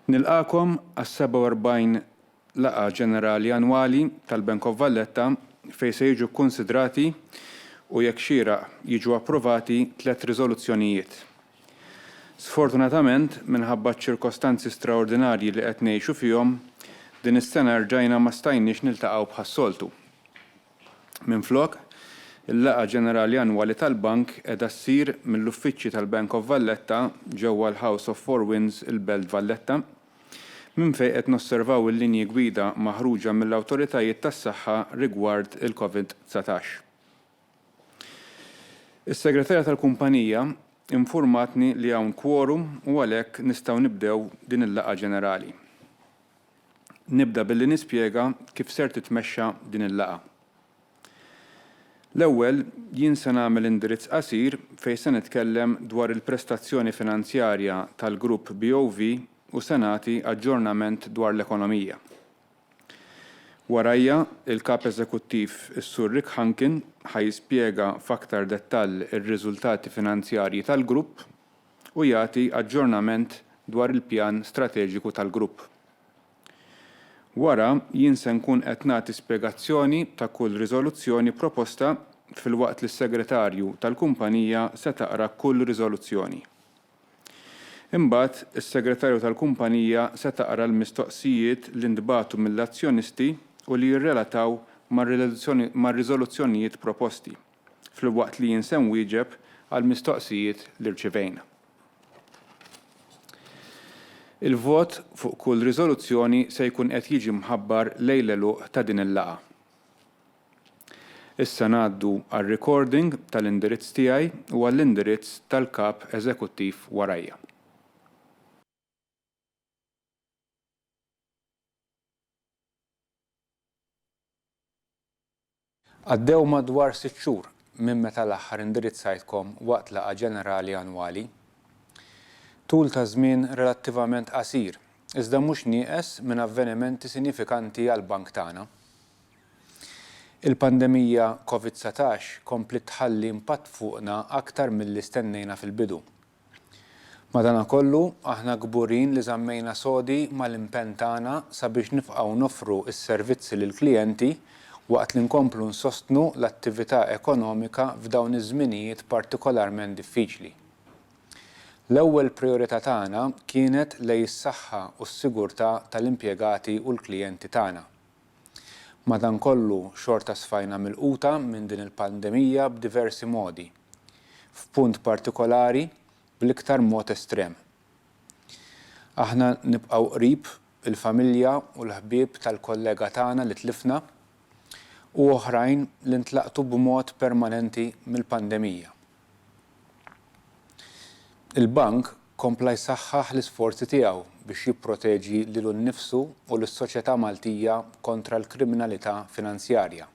Nilqagħkom għas-47 Laqgħa Ġenerali Annwali tal-Bank of Valletta fejn se jiġu kkunsidrati u jekk xieraq jiġu approvati tliet riżoluzzjonijiet. Sfortunatament, minħabba ċ-ċirkostanzi straordinarji li qed ngħixu fihom, din is-sena rġajna ma stajniex niltaqgħu bħas-soltu. Minflok, il-laqgħa ġenerali annwali tal-Bank qiegħda ssir mill-uffiċċji tal-Bank of Valletta ġewwa l-House of Four Winds il-Belt Valletta, minn fejn qed nosservaw il-linji gwida maħruġa mill-awtoritajiet tas-saħħa rigward il-Covid dsatax. Is-Segretarja tal-kumpanija infurmatni li hawn kworum u għalhekk nistgħu nibdew din il-laqgħa ġenerali. Nibda billi nispjega kif ser titmexxa din il-laqgħa. L-ewwel, jien se nagħmel indirizz qasir fejn se nitkellem dwar il-prestazzjoni finanzjarja tal-grupp BOV u se nagħti aġġornament dwar l-ekonomija. Warajja, il-Kap Eżekuttiv, is-Sur Rick Hunkin, ħa jispjega f'aktar dettall ir-riżultati finanzjarji tal-grupp u jagħti aġġornament dwar il-pjan strateġiku tal-grupp. Wara, jien se nkun qed nagħti spjegazzjoni ta' kull riżoluzzjoni proposta filwaqt li s-segretarju tal-kumpanija se taqra kull riżoluzzjoni. Imbagħad, is-segretarju tal-kumpanija se taqra l-mistoqsijiet li ntbagħtu mill-azzjonisti u li jirrelataw mar-riżoluzzjonijiet proposti. filwaqt li jien se nwieġeb għall-mistoqsijiet li rċivejna. Il-vot fuq kull riżoluzzjoni se jkun qed jiġi mħabbar lejn l-għeluq ta' din il-laqgħa. Issa ngħaddu għar-recording tal-indirizz tiegħi u għall-indirizz tal-Kap Eżekuttiv warajja. Għaddew madwar sitt xhur minn meta l-aħħar indirizzajtkom waqt laqgħa ġenerali annwali. Tul ta' żmien relattivament qasir, iżda mhux nieqes minn avvenimenti sinifikanti għall-Bank tagħna. Il-pandemija Covid satax kompliet tħalli impatt fuqna aktar milli stennejna fil-bidu. Madanakollu, aħna kburin li żammejna sodi mal-impenn tagħna sabiex nifqgħu noffru s-servizzi lill-klijenti waqt li nkomplu nsostnu l-attività ekonomika f'dawn iż-żminijiet partikolarment diffiċli. L-ewwel prijorità tagħna kienet lej is-saħħa u s-sigurtà tal-impjegati u l-klijenti tagħna. Madankollu, xorta sfajna milquta minn din il-pandemija b'diversi modi. F'punt partikolari, bl-iktar mod estrem. Aħna nibqgħu qrib il-familja u l-ħbieb tal-kollega tagħna li tlifna u oħrajn li ntlaqtu b'mod permanenti mill-pandemija. Il-Bank kompla jsaħħaħ l-isforzi tiegħu biex jipproteġi lilu nnifsu u lis-soċjetà Maltija kontra l-kriminalità finanzjarja.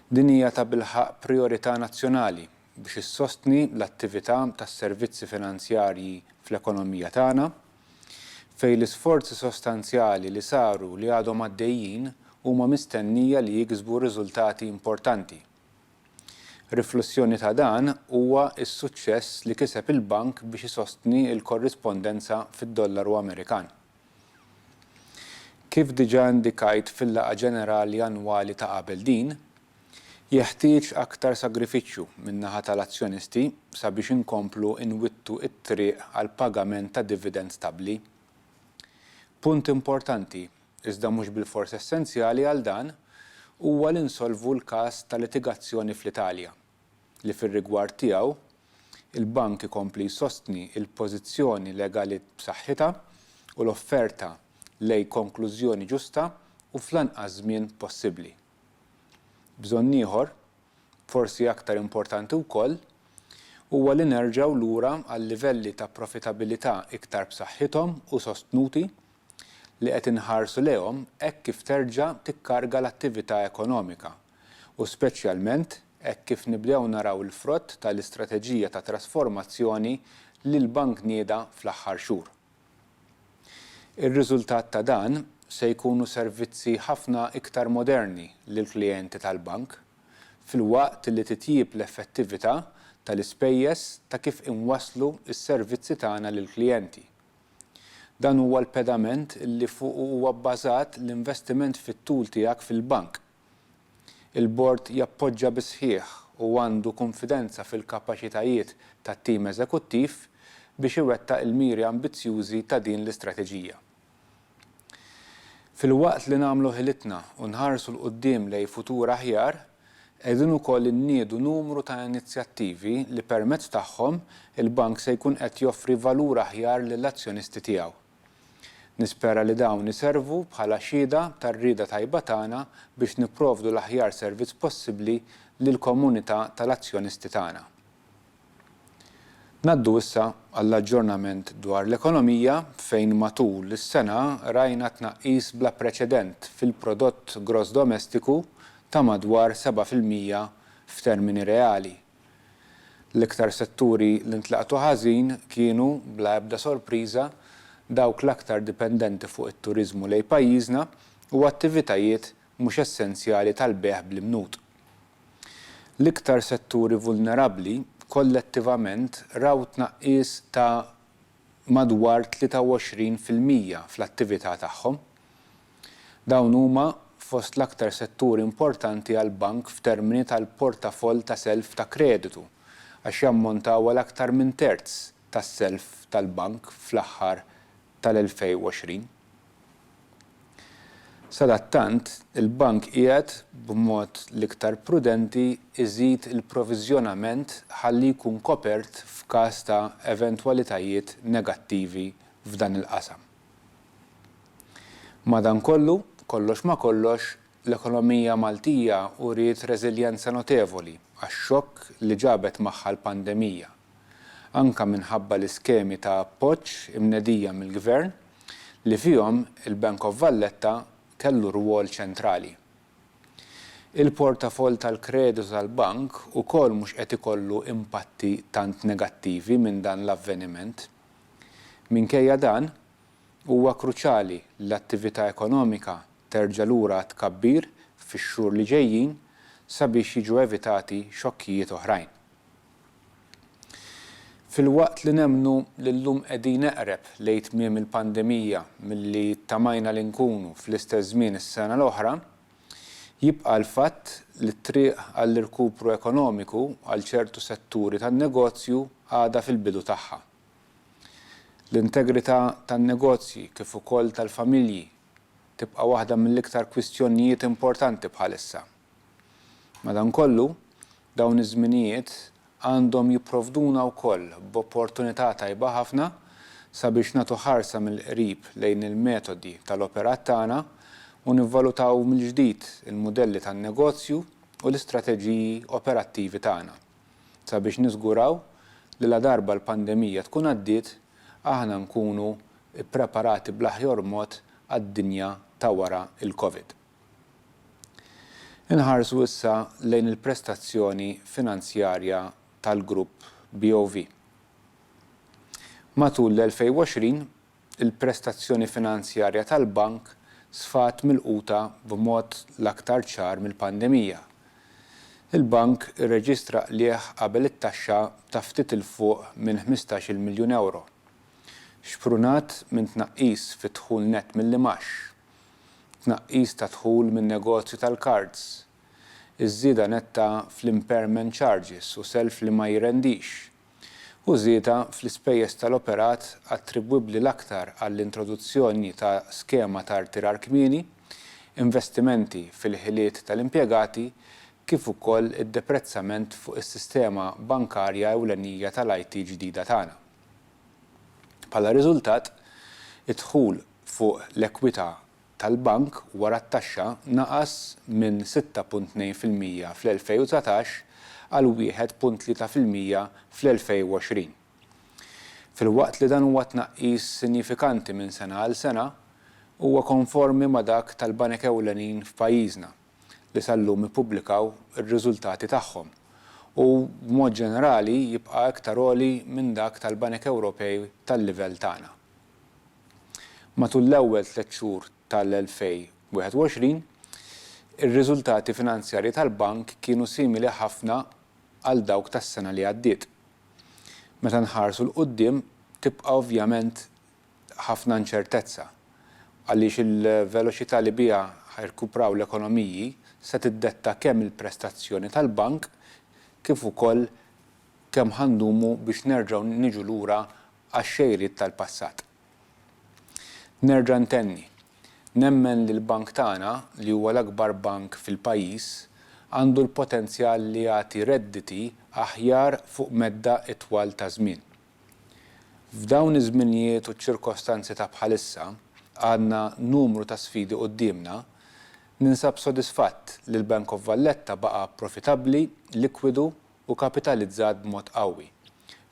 Din hija tabilħaqq prijorità nazzjonali biex issostni l-attività tas-servizzi finanzjarji fl-ekonomija tagħna, fejn l-isforzi sostanzjali li saru li għadhom għaddejjin huma mistennija li jiksbu riżultati importanti. Riflussjoni ta' dan huwa s-suċċess li kiseb il-Bank biex isostni l-korrispondenza fid-dollaru Amerikan. Kif diġà indikajt fil-laqgħa ġenerali annwali ta' qabel din, jeħtieġ aktar sagrifiċċju min-naħa tal-azzjonisti sabiex inkomplu nwittu t-triq għall-pagament ta' dividend stabbli. Punt importanti iżda mhux bilfors essenzjali għal dan, huwa li nsolvu l-każ ta' litigazzjoni fl-Italja, li fir-rigward tiegħu, il-Bank ikompli jsostni l-pożizzjoni legalit b'saħħitha u l-offerta lej konklużjoni ġusta u fl-anqas żmien possibbli. Bżonn ieħor, forsi aktar importanti wkoll, huwa li nerġgħu lura għal livelli ta' profitabilità iktar b'saħħithom u sostnuti li qed inħarsu lejhom hekk kif terġa' tikkarga l-attività ekonomika u speċjalment hekk kif nibdew naraw il-frott tal-istrateġija ta' trasformazzjoni li l-Bank nieda fl-aħħar xhur. Ir-riżultat ta' dan se jkunu servizzi ħafna iktar moderni lill-klijenti tal-Bank, filwaqt li titjieb l-effettività tal-ispejjeż ta' kif inwasslu s-servizzi tagħna lill-klijenti. Dan huwa l-pedament li fuqu huwa bbażat l-investiment fit-tul tiegħek fil-bank. Il-Bord jappoġġa bis-sħiħ u għandu kunfidenza fil-kapaċitajiet tat-tim eżekuttiv biex iwettaq il-miri ambizzjużi ta' din l-istrateġija. Filwaqt li nagħmlu ħilitna u nħarsu 'l quddiem lejn futur aħjar, Qegħdin ukoll inniedu numru ta' inizjattivi li permezz tagħhom il-Bank se jkun qed joffri valur aħjar lill-azzjonisti tiegħu. Nispera li dawn iservu bħala xhieda tar-rieda tajba tagħna biex nipprovdu l-aħjar servizz possibbli lill-komunità tal-azzjonisti tagħna. Ngħaddu issa għall-aġġornament dwar l-ekonomija fejn matul is-sena rajna tnaqqis bla preċedent fil-prodott gross domestiku ta' madwar seba' fil-mija f'termini reali. L-iktar setturi li ntlaqtu ħażin kienu, bla ebda sorpriża, dawk l-aktar dipendenti fuq it-turiżmu lejn pajjiżna u attivitajiet mhux essenzjali tal-bejgħ bl-imnut. L-iktar setturi vulnerabbli kollettivament raw tnaqqis ta' madwar 23 fil-mija fl-attività tagħhom. Dawn huma fost l-aktar setturi importanti għall-Bank f'termini tal-portafoll ta' self ta' kreditu għax jammontaw għal aktar minn terz tas-self tal-Bank fl-aħħar tal-2020. Sadattant, il-Bank qiegħed, b'mod l-iktar prudenti, iżid il-proviżjonament ħalli jkun kopert f'każ ta' eventwalitajiet negattivi f'dan il-qasam. Madankollu, kollox ma' kollox, l-ekonomija Maltija uriet reżiljenza notevoli għax-xokk li ġabet magħha l-pandemija, anke minħabba l-iskemi ta' appoġġ imnedija mill-Gvern li fihom il-Bank of Valletta kellu rwol ċentrali. Il-portafoll tal-kreditu tal-bank ukoll mhux qed ikollu impatti tant negattivi minn dan l-avveniment. Minkejja dan, huwa kruċjali li l-attività ekonomika terġa' lura għat-tkabbir fix-xhur li ġejjin sabiex jiġu evitati xokkijiet oħrajn. Filwaqt li nemmnu li llum qegħdin eqreb lejn tmiem il-pandemija milli ttamajna li nkunu fl-istess żmien is-sena l-oħra, jibqa' l-fatt li t-triq għall-irkupru ekonomiku għal ċertu setturi tan-negozju għadha fil-bidu tagħha. L-integrità tan-negozji kif ukoll tal-familji tibqa' waħda mill-iktar kwistjonjijiet importanti bħalissa. Madankollu, dawn iż-żminijiet għandhom jipprovduna wkoll b'opportunità tajba ħafna sabiex nagħtu ħarsa mill-qrib lejn il-metodi tal-operat tagħna u nivvalutaw mill-ġdid il-mudelli tan-negozju u l-istrateġiji operattivi tagħna sabiex niżguraw li ladarba l-pandemija tkun għaddiet aħna nkunu ppreparati bl-aħjor mod għad-dinja ta' wara l-Covid. Inħarsu issa lejn il-prestazzjoni finanzjarja tal-grupp BOV. Matul l-2020, il-prestazzjoni finanzjarja tal-bank sfat milquta b'mod l-aktar ċar mill-pandemija. Il-bank irreġistra qligħ qabel it-taxxa ta' ftit 'il fuq minn ħmistax-il miljun ewro, xprunat minn tnaqqis fid-dħul nett mill-imgħax. tnaqqis ta' dħul min-negozju tal-kards, iż-żieda netta fl-impairment charges u self li ma jirrendix, u żieda fl-ispejjeż tal-operat attribwibbli l-aktar għall-introduzzjoni ta' skema ta' rtirar kmieni, investimenti fil-ħiliet tal-impjegati kif ukoll id-deprezzament fuq is-sistema bankarja ewlenija tal-IT ġdida tagħna. Bħala riżultat, id-dħul fuq l-ekwità tal-bank wara t-taxxa naqas minn 6.2 fil-mija fl-2019 għal 1.3 fil-mija fl-2020. Filwaqt li dan huwa tnaqqis sinjifikanti minn sena għal sena, huwa konformi ma' dak tal-banek ewlenin f'pajjiżna li sal-lum ippubblikaw ir-riżultati tagħhom u, b'mod ġenerali, jibqa' iktar għoli minn dak tal-banek Ewropej tal-livell tagħna. Matul l-ewwel tliet xhur tal-2021, ir-riżultati finanzjarji tal-Bank kienu simili ħafna għal dawk tas-sena li għaddiet. Meta nħarsu 'l quddiem, tibqa' ovvjament ħafna inċertezza, għaliex il-veloċità li biha ħa jirkupraw l-ekonomiji se tiddetta kemm il-prestazzjoni tal-Bank kif ukoll kemm ħa ndumu biex nerġgħu niġu lura għax-xejriet tal-passat. Nerġa' ntenni, nemmen li l-bank tagħna, li huwa l-akbar bank fil-pajjiż, għandu l-potenzjal li jagħti redditi aħjar fuq medda itwal ta' żmien. F'dawn iż-żminijiet u ċ-ċirkostanzi ta' bħalissa, għandna numru ta' sfidi quddiemna, ninsab sodisfatt li l-Bank of Valletta baqa' profitabbli, likwidu u kapitalizzat b'mod qawwi,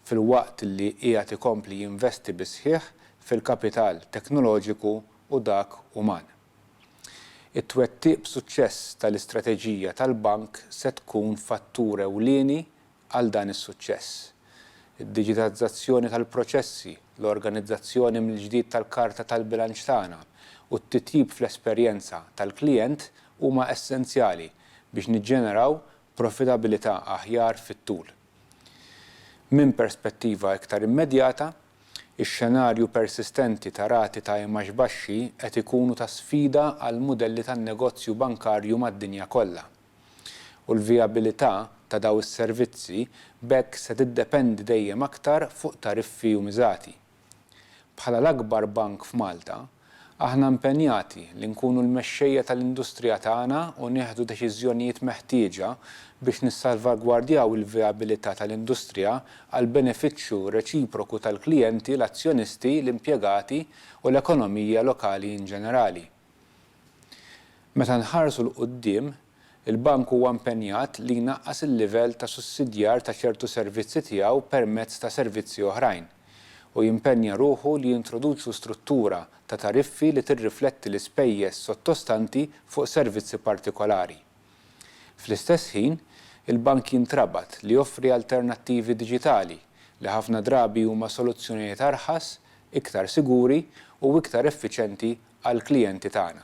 filwaqt li qiegħed ikompli jinvesti bis-sħiħ fil-kapital teknoloġiku u dak uman. It-twettiq b'suċċess tal-istrateġija tal-Bank se tkun fattur ewlieni għal dan is-suċċess. Id-diġitazzazzjoni tal-proċessi, l-organizzazzjoni mill-ġdid tal-karta tal-bilanċ tagħna u t-titjib fl-esperjenza tal-klijent huma essenzjali biex niġġeneraw profitabilità aħjar fit-tul. Minn perspettiva iktar immedjata, ix-xenarju persistenti ta' rati ta' imgħax baxxi qed ikunu ta' sfida għall-mudelli tan-negozju bankarju mad-dinja kollha, u l-vijabilità ta' dawn is-servizzi b'hekk se tiddependi dejjem aktar fuq tariffi u miżati. Bħala l-akbar bank f'Malta, aħna impenjati li nkunu l-mexxejja tal-industrija tagħna u nieħdu deċiżjonijiet meħtieġa biex nissalvagwardjaw il-vijabilità tal-industrija għall-benefiċċju reċiproku tal-klijenti, l-azzjonisti, l-impjegati u l-ekonomija lokali inġenerali. Meta nħarsu 'l quddiem, Il-Bank huwa impenjat li jnaqqas il-livell ta' sussidjar ta' ċertu servizzi tiegħu permezz ta' servizzi oħrajn, u jimpenja ruħu li jintroduċu struttura ta' tariffi li tirrifletti l-ispejjeż sottostanti fuq servizzi partikolari. Fl-istess ħin, il-Bank jintrabat li joffri alternattivi diġitali, li ħafna drabi huma soluzzjonijiet arħas, iktar siguri u iktar effiċenti għall-klijenti tagħna.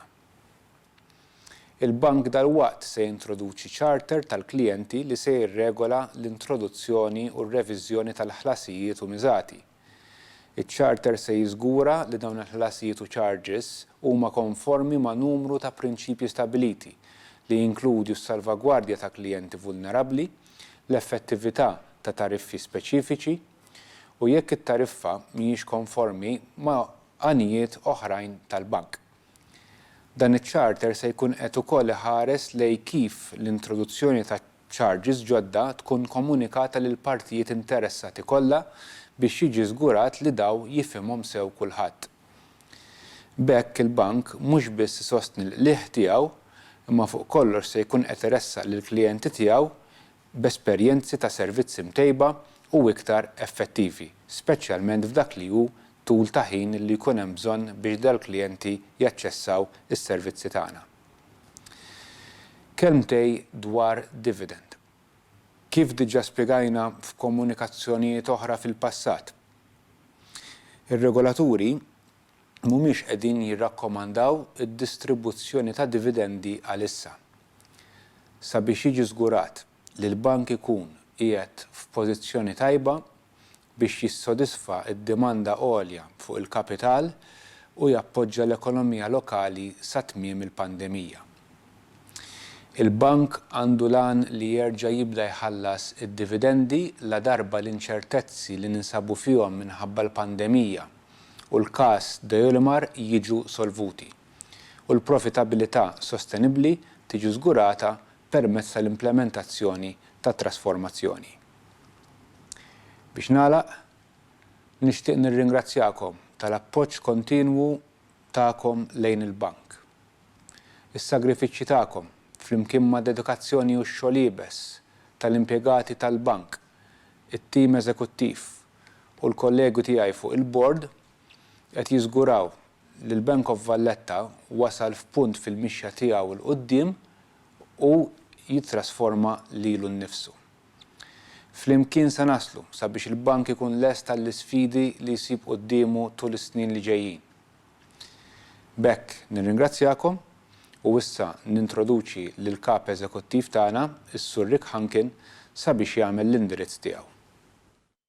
Il-Bank dalwaqt se jintroduċi charter tal-klijenti li se jirregola l-introduzzjoni u r-reviżjoni tal-ħlasijiet u miżati. Iċ-charter se jiżgura li dawn il-ħlasijiet u charges huma konformi ma' numru ta' prinċipji stabbiliti, li jinkludju s-salvagwardja ta' klijenti vulnerabbli, l-effettività ta' tariffi speċifiċi, u jekk it-tariffa mhijiex konformi ma' għanijiet oħrajn tal-Bank. Dan iċ-charter se jkun qed ukoll iħares lejn kif l-introduzzjoni ta' charges ġodda tkun komunikata lill-partijiet interessati kollha biex jiġi żgurat li daw jifhimhom sew kulħadd. B'hekk il-Bank mhux biss isostni l-qligħ tiegħu imma fuq kollox se jkun qed iressaq lill-klijenti tiegħu b'esperjenzi ta' servizzi mtejba u iktar effettivi, speċjalment f'dak li hu tul ta' ħin li jkun hemm bżonn biex dal-klijenti jaċċessaw is-servizzi tagħna. Kelmtej dwar dividend. Kif diġà spjegajna f'komunikazzjonijiet oħra fil-passat, ir-regolaturi mhumiex qegħdin jirrakkomandaw id-distribuzzjoni ta' dividendi għalissa. Sabiex jiġi żgurat li l-bank ikun qiegħed f'pożizzjoni tajba biex jissodisfa d-dimanda għolja fuq il-kapital u jappoġġa l-ekonomija lokali sa tmiem il-pandemija. Il-Bank għandu l-għan li jerġa' jibda jħallas id-dividendi ladarba l-inċertezzi li ninsabu fihom minħabba l-pandemija u l-każ Deulmar jiġu solvuti, u l-profitabilità sostenibbli tiġi żgurata permezz tal-implementazzjoni tat-trasformazzjoni. Biex nagħlaq, nixtieq nirringrazzjakom tal-appoġġ kontinwu tagħkom lejn il-Bank. Is-sagrifiċċji tagħkom, flimkien mad-dedikazzjoni u x-xogħol iebes tal-impjegati tal-Bank, it-tim eżekuttiv u l-kollegi tiegħi fuq il-Bord, qed jiżguraw li l-Bank of Valletta wasal f'punt fil-mixja tiegħu 'l quddiem u jittrasforma lilu nnifsu. Flimkien se naslu sabiex il-Bank ikun lest għall-isfidi li jsib quddiemu tul is-snin li ġejjin. B'hekk nirringrazzjakom u issa nintroduċi lill-Kap Eżekuttiv tagħna, is-Sur Rick Hunkin, sabiex jagħmel l-indirizz tiegħu.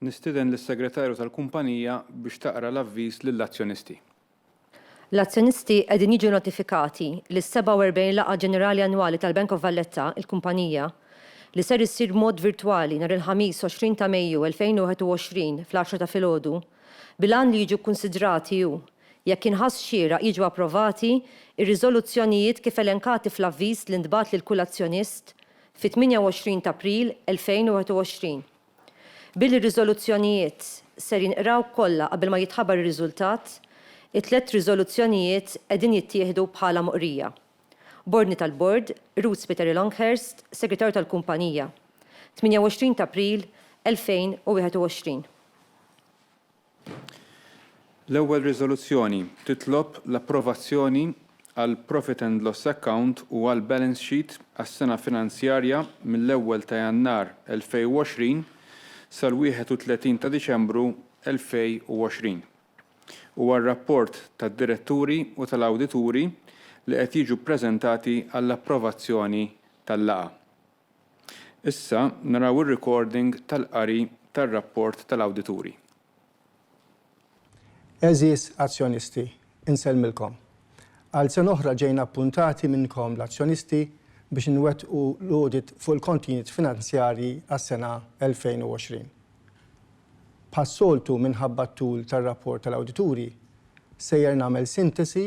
Nistieden lis-Segretarju tal-kumpanija biex taqra l-avviż lill-azzjonisti. L-azzjonisti qegħdin jiġu notifikati li s-47 Laqgħa Ġenerali Annwali tal-Bank of Valletta, il-kumpanija, li ser issir b'mod virtwali nhar il-Ħamis 20 ta' Mejju 2021 fl-għaxra ta' filgħodu, bil-għan li jiġu kkunsidrati u, jekk jinħass xieraq, jiġu approvati r-riżoluzzjonijiet kif elenkati fl-avviż li ntbagħat lil kull azzjonist, fit-28 t'April 2021. Billi r-riżoluzzjonijiet ser jinqraw kollha qabel ma jitħabar ir-riżultat, it-tliet riżoluzzjonijiet qegħdin jittieħdu bħala moqrija. B'ordni tal-Bord, Ruud Spiteri Longhurst, Segretarju tal-Kumpanija, 28 t'April 2021. L-ewwel riżoluzzjoni titlob l-approvazzjoni għall-profit and loss account u għall-balance sheet għas-sena finanzjarja mill-ewwel ta' Jannar 2020 sal-31 ta' Diċembru 2020 u għar-rapport tad-diretturi u tal-awdituri li qed jiġu ppreżentati għall-approvazzjoni tal-laqgħa. Issa naraw ir-recording tal-qari tar-rapport tal-awdituri. Għeżież azzjonisti, insellmilkom. Għal sena oħra ġejna appuntati minnkom l-azzjonisti biex inwettqu l-audit fuq il-kontijiet finanzjarji għas-sena 2020. Bħas-soltu minħabba t-tul tar-rapport tal-awdituri, sejjer nagħmel sintesi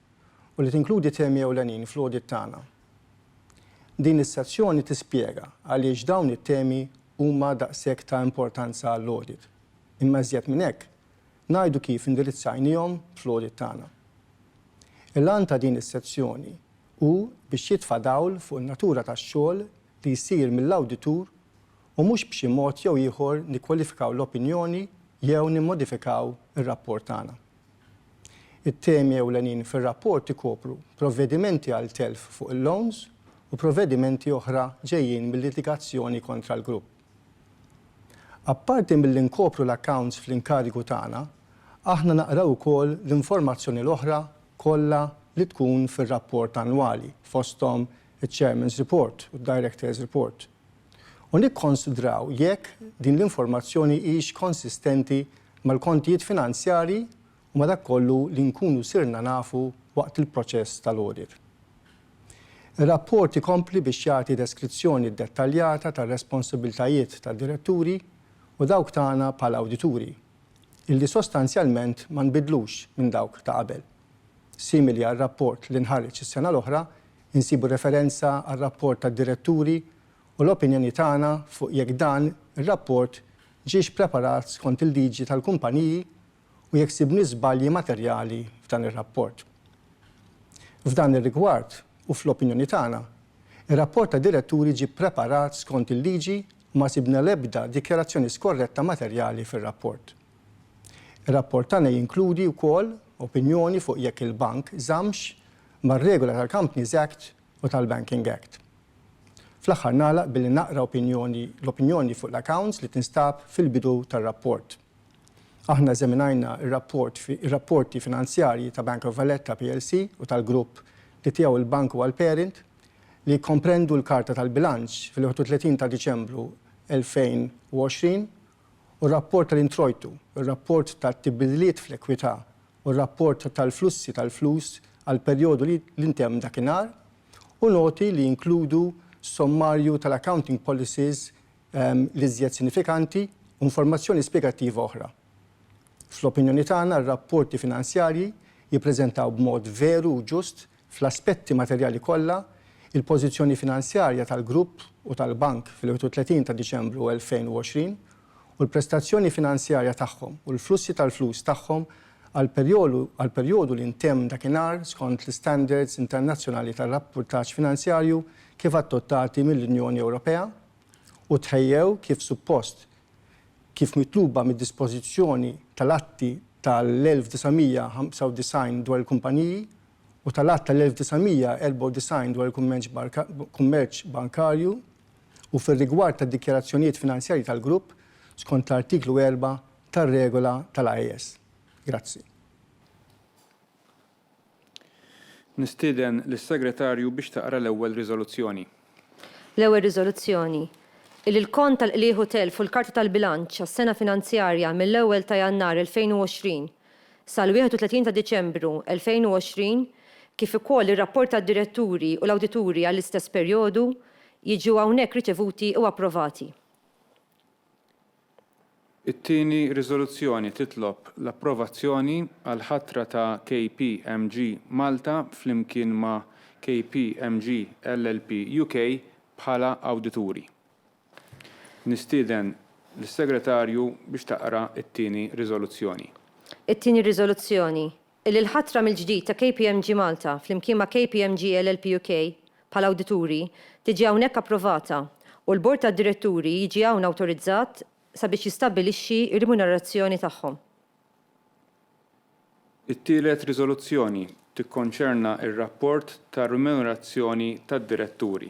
u li tinkludi temi ewlenin fl-audit tagħna. Din is-sezzjoni tispjega għaliex dawn it-temi huma daqshekk ta' importanza għall-audit, imma iżjed minn hekk, ngħidu kif indirizzajniehom fl-audit tagħna. Il-għan ta' din is-sezzjoni hu biex jitfa' dawl fuq in-natura tax-xogħol li jsir mill-awditur u mhux b'xi mod jew ieħor nikkwalifikaw l-opinjoni jew nimmodifikaw ir-rapport tagħna. It-temi ewlenin fir-rapport ikopru provvedimenti għal telf fuq il-loans u provvedimenti oħra ġejjin mil-litigazzjoni kontra l-grupp. Apparti milli nkopru l-accounts fl-inkarigu tagħna, aħna naqraw ukoll l-informazzjoni l-oħra kollha li tkun fir-rapport annwali, fosthom iċ-Chairman's Report u d-Directors' Report. u nikkonsidraw jekk din l-informazzjoni hix konsistenti mal-kontijiet finanzjarji u ma' dak kollu li nkunu sirna nafu waqt il-proċess tal-audit. Ir-rapport ikompli biex jagħti deskrizzjoni ddettaljata tar-responsabbiltajiet tad-diretturi u dawk tagħna bħala awdituri, illi sostanzjalment ma nbidlux minn dawk ta' qabel, simili għar-rapport li nħareġ is-sena l-oħra insibu referenza għar-rapport tad-diretturi u l-opinjoni tagħna fuq jekk dan ir-rapport ġiex preparat skont il-liġi tal-kumpaniji u jekk sibniex żbalji materjali f'dan ir-rapport. F'dan ir-rigward u fl-opinjoni tagħna, ir-rapport tad-diretturi ġie ppreparat skont il-liġi u ma sibna l-ebda dikjarazzjoni skorretta materjali fir-rapport. Ir-rapport tagħna jinkludi wkoll opinjoni fuq jekk il-bank żammx mar-regola tal-Companies Act u tal-Banking Act. Fl-aħħar nagħlaq billi naqra opinjoni, l-opinjoni fuq l-accounts li tinstab fil-bidu tar-rapport. Aħna eżaminajna r-rapport fi, ir-rapporti finanzjarji ta' Bank of Valletta plc u tal-grupp li tiegħu l-bank huwa l-parent, li jikkomprendu l-karta tal-bilanċ fil-31 ta' Diċembru 2020 u r-rapport tal-introjtu, ir-rapport tat-tibidliet fl-ekwità u r-rapport tal-flussi tal-flus għall-perjodu li ntemm dakinhar, u noti li jinkludu sommarju tal-accounting policies l-iżjed sinifikanti u informazzjoni spjegattiva oħra. Fl-opinjoni tagħna, r-rapporti finanzjarji jippreżentaw b'mod veru u ġust Fl-aspetti materjali kollha, il-pożizzjoni finanzjarja tal-Grupp u tal-Bank fil-31 ta' Diċembru 2020 u l-prestazzjoni finanzjarja tagħhom u l-flussi tal-flus tagħhom għall-perjodu li ntemm dakinhar skont l-istandards internazzjonali ta' rappurtaġġ finanzjarju kif adottati mill-Unjoni Ewropea u tħejjew kif suppost kif mitluba mid-dispożizzjoni tal-Atti tal-1995 dwar il-Kumpaniji u tal-Att tal-1994 dwar il-Kummerċ Bankarju u fir-rigward tad-dikjarazzjonijiet finanzjarji tal-Grupp skont l-Artiklu 4 tar-Regola tal-AES. Grazzi. Nistieden lis-Segretarju biex taqra l-ewwel riżoluzzjoni. L-ewwel riżoluzzjoni, illi l-kont tal-qligħ u telf u l-karti tal-bilanċ għas-sena finanzjarja mill-ewwel ta' Jannar 2020 sal-31 ta' Diċembru 2020 kif ukoll ir-rapport tad-diretturi u l-awdituri għall-istess perjodu jiġu hawnhekk riċevuti u approvati. It-tieni riżoluzzjoni titlob l-approvazzjoni għall-ħatra ta' KPMG Malta flimkien ma' KPMG LLP UK bħala awdituri. Nistieden lis-Segretarju biex taqra t-tieni riżoluzzjoni. It-tieni riżoluzzjoni Illi l-ħatra mill-ġdid ta' KPMG Malta flimkien ma' KPMG LLP UK bħala awdituri tiġi hawnhekk approvata u l-Bord tad-Diretturi jiġi hawn awtorizzat sabiex jistabbilixxi r-rimunerazzjoni tagħhom. It-tielet riżoluzzjoni tikkonċerna r-rapport tar-rimunerazzjoni tad-Diretturi.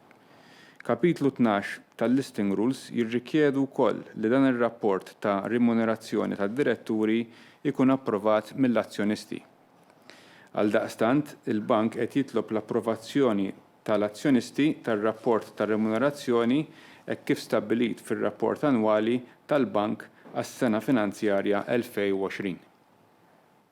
Kapitlu Tnax tal-Listing Rules jirrikjedu wkoll li dan ir-rapport ta' rimunerazzjoni tad-diretturi jkun approvat mill-azzjonisti. Għaldaqstant, il-Bank qed jitlob l-approvazzjoni ta' l-azzjonisti tar-rapport ta' rimunerazzjoni hekk kif stabbilit fir-rapport annwali tal-Bank għas-sena finanzjarja 2020.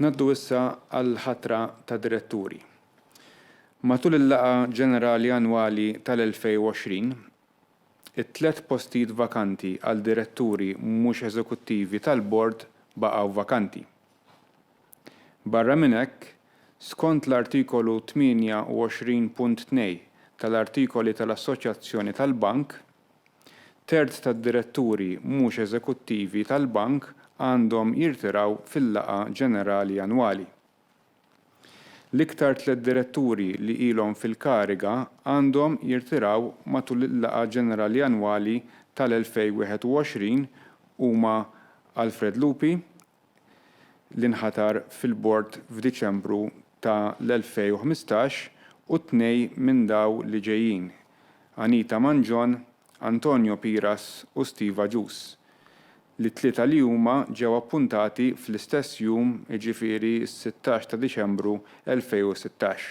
Ngħaddu issa għall-ħatra ta' diretturi. Matul il-laqgħa ġenerali annwali tal-2020, it-tliet postijiet vakanti għal diretturi mhux eżekuttivi tal-Bord baqgħu vakanti. Barra minn hekk, skont l-Artikolu 28.2 tal-Artikoli tal-Assoċjazzjoni tal-Bank, Terz tad-diretturi mhux eżekuttivi tal-Bank għandhom jirtiraw fil-laqgħa ġenerali annwali. L-iktar tliet diretturi li ilhom fil-kariga għandhom jirtiraw matul il-laqgħa ġenerali annwali tal-2021 huma Alfred Lupi, li nħatar fil-Bord f'Diċembru ta' l-2015 u t-tnej minn daw li ġejjin, Anita Mangion, Antonio Piras u Steve Agius, li t-tlieta li huma ġew appuntati fl-istess jum jiġifieri s-sittax ta' Diċembru 2016.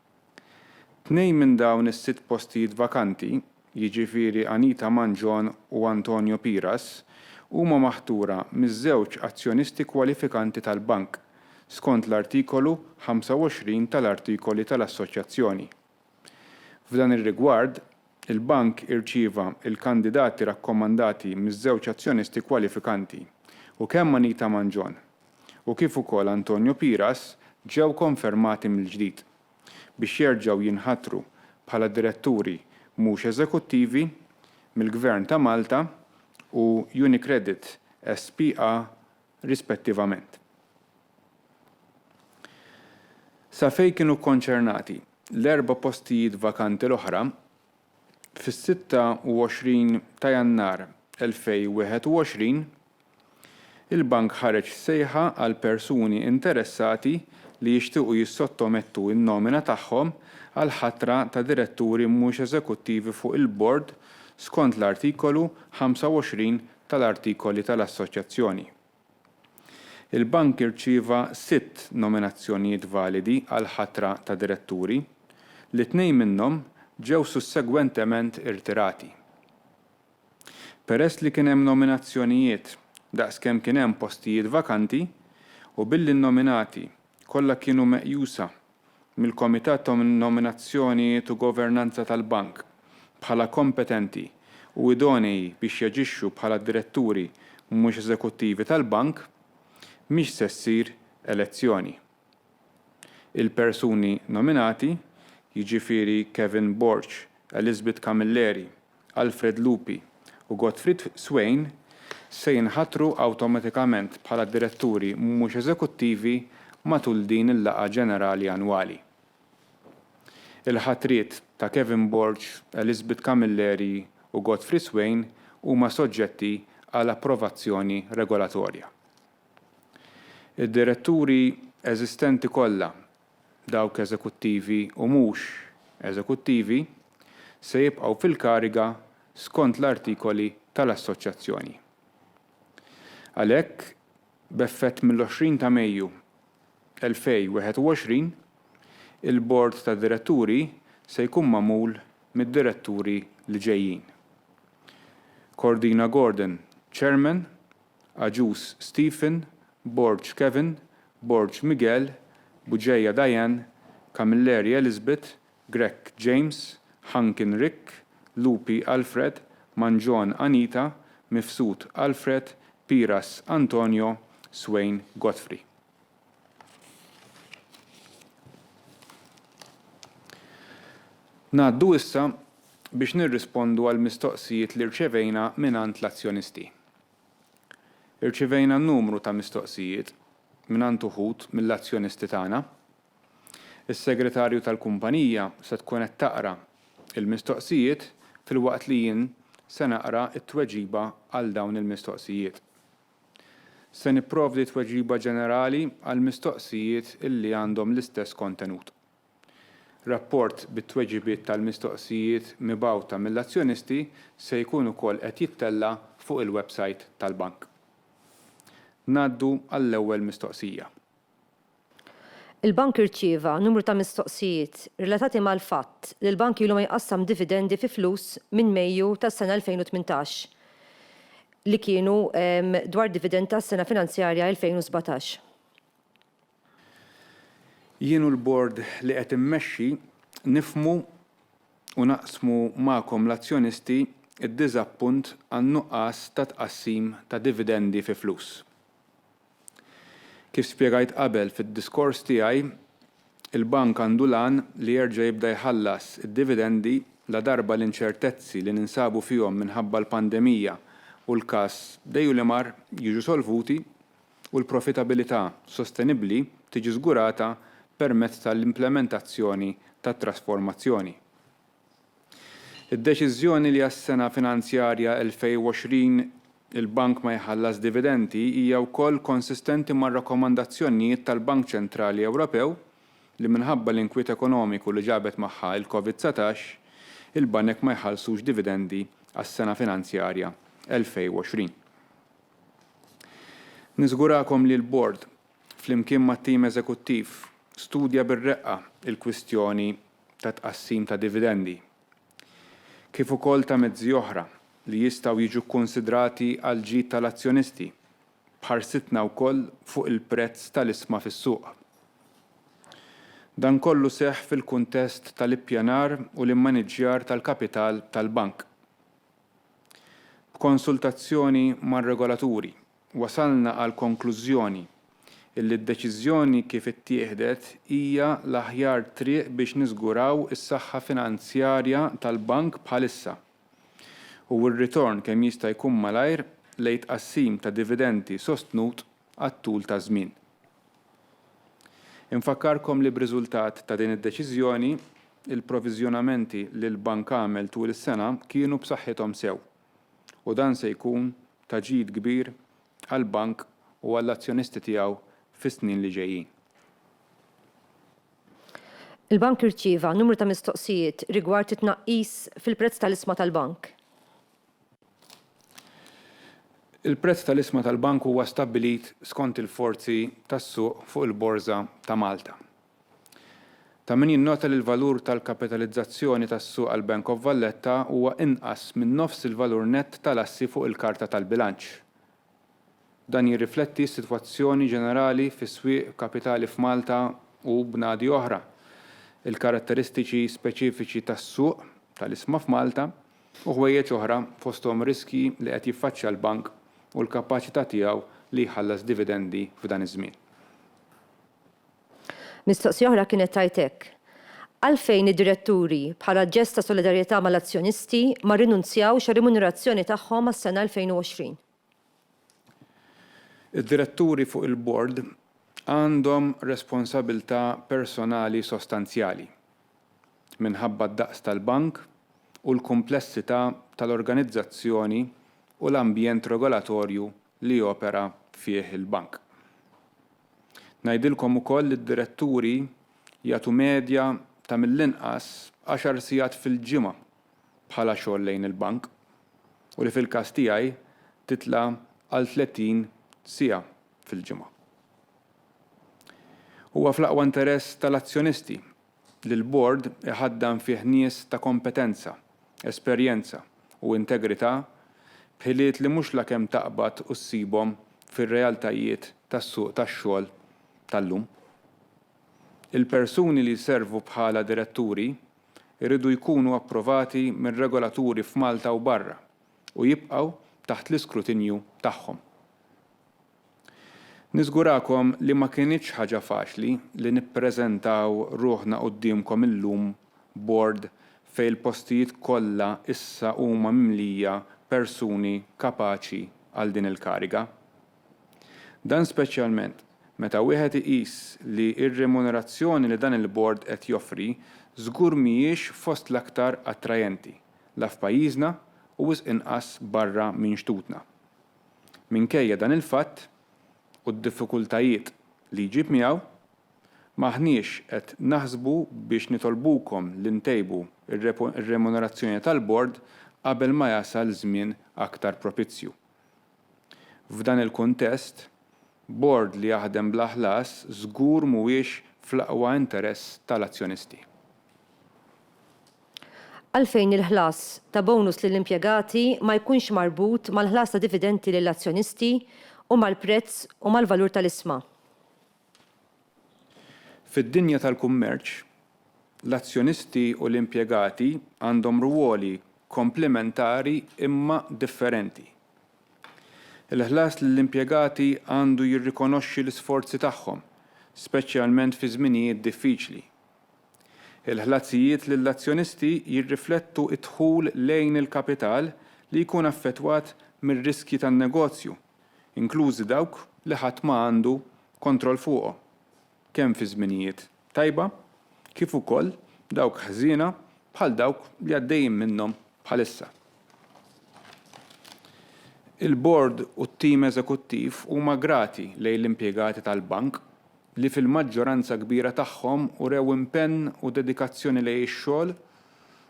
Tnejn minn dawn is-sitt postijiet vakanti, jiġifieri Anita Mangion u Antonio Piras, huma maħtura miż-żewġ azzjonisti kwalifikanti tal-Bank, skont l-Artikolu 25 tal-Artikoli tal-Assoċjazzjoni. F'dan ir-rigward, Il-Bank irċieva l-kandidati rakkomandati miż-żewġ azzjonisti kwalifikanti u kemm Anita Mangion u kif ukoll Antonio Piras ġew konfermati mill-ġdid biex jerġgħu jinħatru bħala diretturi mhux eżekuttivi mill-Gvern ta' Malta u Unicredit SpA rispettivament. Sa fejn kienu kkonċernati, l-erba' postijiet vakanti l-oħra, fis-26 ta' Jannar 2021, il-Bank ħareġ sejħa għal persuni interessati li jixtiequ jissottomettu n-nomina tagħhom għall-ħatra ta' diretturi mhux eżekuttivi fuq il-Bord skont l-Artikolu 25 tal-Artikoli tal-Assoċjazzjoni. Il-Bank irċieva sitt nominazzjonijiet validi għall-ħatra ta' diretturi, li tnejn minnhom ġew sussegwentement irtirati. Peress li kien hemm nominazzjonijiet daqs kemm kien hemm postijiet vakanti, u billi n-nominati kollha kienu meqjusa mill-Komitat ta' Nominazzjonijiet u Governanza tal-Bank bħala kompetenti u idonei biex jaġixxu bħala diretturi mhux eżekuttivi tal-Bank, mhix se ssir elezzjoni. Il-persuni nominati, jiġifieri Kevin Borg, Elizabeth Camilleri, Alfred Lupi u Gottfried Swain se jinħatru awtomatikament bħala diretturi mhux eżekuttivi matul din il-laqgħa ġenerali annwali. Il-ħatriet ta' Kevin Borg, Elizabeth Camilleri u Gottfried Swain huma soġġetti għal approvazzjoni regolatorja. Id-diretturi eżistenti kollha dawk eżekuttivi u mhux eżekuttivi, se jibqgħu fil-kariga skont l-Artikoli tal-Assoċjazzjoni. Għalhekk, b'effett mill-20 ta' Mejju 2021, il-Bord ta' Diretturi se jkun magħmul mid-diretturi li ġejjin, Cordina Gordon, Chairman, Agius Stephen, Borg Kevin, Borg Miguel, Bugeja Diane, Camilleri Elizabeth, Grech James, Hankin Rick, Lupi Alfred, Mangion Anita, Mifsud Alfred, Piras Antonio, Swain Godfrey. Ngħaddu issa biex nirrispondu għall-mistoqsijiet li rċevejna mingħand l-azzjonisti. Irċivejna numru ta' mistoqsijiet mingħand uħud mill-azzjonisti tagħna. Is-Segretarju tal-kumpanija se tkun qed taqra l-mistoqsijiet filwaqt li jien se naqra t-tweġiba għal dawn il-mistoqsijiet. Se nipprovdi tweġiba ġenerali għall-mistoqsijiet li għandhom l-istess kontenut. Rapport bit-tweġibiet tal-mistoqsijiet mibgħuta mill-azzjonisti se jkun ukoll qed jittella' fuq il-websajt tal-Bank. Ngħaddu għall-ewwel mistoqsija. Il-Bank irċieva numru ta' mistoqsijiet relatati mal-fatt li l-Bank ilu ma jqassam dividendi fi flus minn Mejju tas-sena 2018 li kienu dwar dividend tas-sena finanzjarja 2017. Jien u l-Bord li qed immexxi nifhmu u naqsmu magħkom l-azzjonisti d-diżappunt għan-nuqqas ta' tqassim ta' dividendi fi flus. Kif spjegajt qabel fid-diskors tiegħi, il-Bank għandu l-għan li jerġa' jibda jħallas id-dividendi ladarba l-inċertezzi li ninsabu fihom minħabba l-pandemija u l-każ Deilimar jiġu solvuti, u l-profitabilità sostenibbli tiġi żgurata permezz tal-implementazzjoni tat-trasformazzjoni. Id-deċiżjoni li għas-sena finanzjarja 2020 il-Bank ma jħallas dividendi hija wkoll konsistenti mar-rakkomandazzjonjiet tal-Bank Ċentrali Ewropew li minħabba l-inkwiet ekonomiku li ġabet magħha il-COVID-19, il-banek ma jħallsux dividendi għas-sena finanzjarja 2020. Niżgurakom li l-Bord, flimkien mat-tim eżekuttiv, studja bir-reqqa l-kwistjoni ta' tqassim ta' dividendi, kif ukoll ta' mezzi oħra li jistgħu jiġu kkunsidrati għall-ġid tal-azzjonisti, b'ħarsitna wkoll fuq il-prezz tal-isma fis-suq. Dan kollu seħħ fil-kuntest tal-ippjanar u l-immaniġġjar tal-kapital tal-Bank. B'konsultazzjoni mar-regolaturi, wasalna għall-konklużjoni illi d-deċiżjoni kif ittieħdet hija l-aħjar triq biex niżguraw is-saħħa finanzjarja tal-Bank bħalissa u r-ritorn kemm jista' jkun malajr lejn tqassim ta' dividendi sostnut għat-tul ta' żmien. Infakkarkom li b'riżultat ta' din id-Deċiżjoni, il-proviżjonamenti li l-Bank għamel tul is-sena kienu b'saħħithom sew, u dan se jkun ta' ġid kbir għall-Bank u għall-azzjonisti tiegħu fis-snin li ġejjin. Il-Bank irċieva numru ta' mistoqsijiet rigward it-tnaqqis fil-prezz tal-isma tal-Bank. Il-prezz tal-isma tal-Bank huwa stabbilit skont il-forzi tas-suq fuq il-Borża ta' Malta. Ta' min jinnota li l-valur tal-kapitalizzazzjoni tas-suq għall-Bank of Valletta huwa inqas minn nofs il-valur nett tal-assi fuq il-karta tal-bilanċ, Dan jirrifletti s-sitwazzjoni ġenerali fis-swieq kapitali f'Malta u bnadi oħra, il-karatteristiċi speċifiċi tas-suq tal-isma f'Malta u ħwejjeġ oħra fosthom ir-riskji li qed jiffaċċja l-bank u l-kapaċità tiegħu li jħallas dividendi f'dan iż-żmien. Mistoqsija oħra kienet tgħid hekk, Għalfejn id-diretturi, bħala ġest ta' solidarjetà mal-azzjonisti, ma rrinunzjawx għar-rimunerazzjoni tagħhom għas-sena 2020? Id-diretturi fuq il-bord għandhom responsabilità personali sostanzjali minħabba d-daqs tal-bank u l-kumplessità tal-organizzazzjoni u l-ambjent regolatorju li jopera fih il-Bank. Ngħidilkom ukoll li d-diretturi jagħtu medja ta' mill-inqas għaxar sigħat fil-ġimgħa bħala xogħol lejn il-Bank u li fil-każ tiegħi titla' għal 30 siegħa fil-ġimgħa. Huwa fl-aqwa interess tal-azzjonisti li l-Bord iħaddan fih nies ta' kompetenza, esperjenza u integrità b'ħiliet li mhux lakemm taqbad u ssibhom fir-realtajiet tas-suq tax-xogħol tal-lum. Il-persuni li jservu bħala diretturi jridu jkunu approvati minn regolaturi f'Malta u barra u jibqgħu taħt l-iskrutinju tagħhom. Niżgurakom li ma kinitx ħaġa faċli li nippreżentaw ruħna quddiemkom illum bord fejn il-postijiet kollha issa huma mimlija persuni kapaċi għal din il-kariga. Dan speċjalment meta wieħed iqis li r-remunerazzjoni li dan il-bord qed joffri żgur mhijiex fost l-aktar attrajenti, la f'pajjiżna u wisq inqas barra minn xtutna. Minkejja dan il-fatt u d-diffikultajiet li jġib miegħu, m'aħniex qed naħsbu biex nitolbukom li ntejbu r-remunerazzjoni tal-Bord qabel ma jasal żmien aktar propizju. F'dan il-kuntest, Bord li jaħdem bla ħlas żgur mhuwiex fl-aqwa interess tal-azzjonisti. Għalfejn il-ħlas ta' bonus lill-impjegati ma jkunx marbut mal-ħlas ta' dividendi lill-azzjonisti u mal-prezz u mal-valur tal-isma? Fid-dinja tal-kummerċ, l-azzjonisti u l-impjegati għandhom rwoli komplementari imma differenti. Il-ħlas lill-impjegati għandu jirrikonoxxi l-isforzi tagħhom, speċjalment fi żminijiet diffiċli. Il-ħlasijiet lill-azzjonisti jirriflettu d-dħul lejn il-kapital li jkun affettwat mir-riskji tan-negozju, inklużi dawk li ħadd ma għandu kontroll fuqhom, kemm fi żminijiet tajba kif ukoll dawk ħżiena bħal dawk li għaddejjin minnhom bħalissa. Il-Bord u t-tim eżekuttiv huma grati lejn l-impjegati tal-Bank li fil-maġġoranza kbira tagħhom urew impenn u dedikazzjoni lejn ix-xogħol